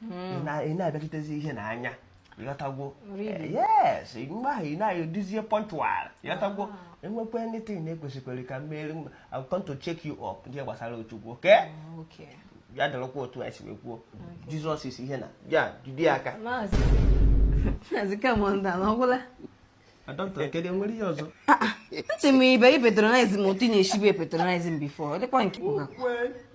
hmm. ị na-abịachitezi ihe na anya ịghọtagwo eh, yes mgbe ahụ ị na-adịzie punctual ịghọtagwo ah. e nwekwa anything na-ekwesịkwere ka mmeri I'm come to check you up ihe gbasara Chukwu okay ah, ya dịrịkwa otu anyị si wee kwuo Jizọs isi ihe na ya jide aka maazị commander na ọgwụla ntị m ibe i patronize m otu na-esibu patronize m before dịkwa nke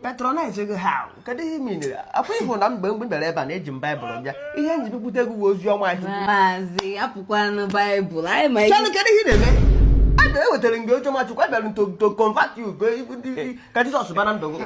patronize gị ha kedu ihe mere akwa ịhụ na mgbe mgbe bịara ebe a na-eji m baịbụl bịa ihe nji bipụta egwu bụ ozi ọma ahụ maazị apụkwanụ baịbụl anyị ma ihe kedu ihe na-eme a na-ewetara mgbe oche machukwu abịara to convert you ka Jizọs bara ndụ gị